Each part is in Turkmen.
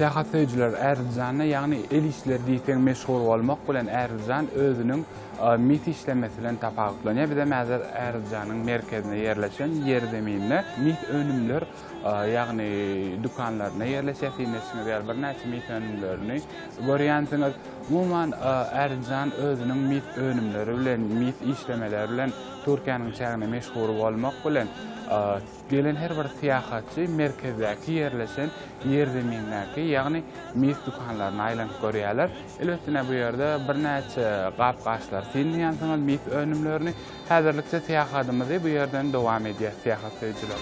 Syýahatsöýüjiler Äriljanna, ýagny el işleri diýseň meşgul bolmak bilen Äriljan özüniň mis işlemesi bilen tapawutlanýar. Bizem häzir Äriljanyň merkezinde ýerleşen ýerzeminine mis önümler ýagny dükanlarynda ýerleşýär, siňeşiňiz ýaly birnäçe mis önümlerini görýänsiňiz. Umuman, Ärjan özüniň mis önümleri bilen, mis işlemeleri bilen Türkiýäniň içeginde meşhur bolmak bilen, gelen her bir syýahatçy merkezdäki ýerleşen ýerzemindäki, ýagny mis dükanlaryna aýlanyp görýärler. Elbetde, bu ýerde birnäçe gap-gaçlary synlaýansyňyz, mis önümlerini. Häzirlikçe syýahatymyzy bu ýerden dowam edýäs syýahat söýüjiler.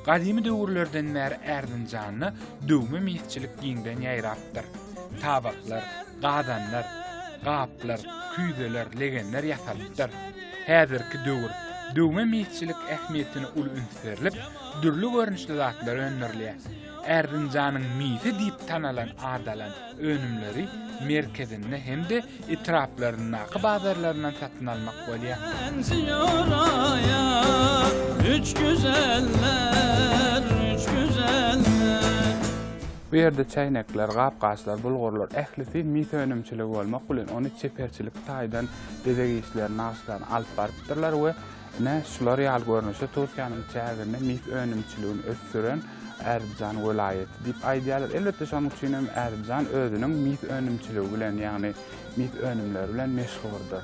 Gadymy döwürlerden bäri Ärdinjanda döwme misçilik giňden ýaýrapdyr. Tabaklar, gazanlar, gaplar, küýzeler, legenler ýasalypdyr. Häzirki döwür döwme misçilik ähmiýetine uly üns berlip, dürli görnüşli zatlar öndürilýär. Erzinjanyň misi diýip tanalan adalan önümleri merkezinde hem-de etraplaryndaky bazarlaryndan satyn almak bolýar. Bu ýerde çäýnekler, gap-gaçlar, bulgurlar, ählisi mis önümçiligi bolmak bilen, ony çeperçilik taýdan bezeg işleri, nagyşlary alyp barypdyrlar we Ine, şular ýaly görnüşde Türkiýäniň çäginde mis önümçiligini ösdüren Ärdjan welaýaty diýip aýdýarlar. Elbetde şonuň üçin hem Ärdjan özüniň mis önümçiligi bilen, ýagny mis önümleri bilen meşhurdyr.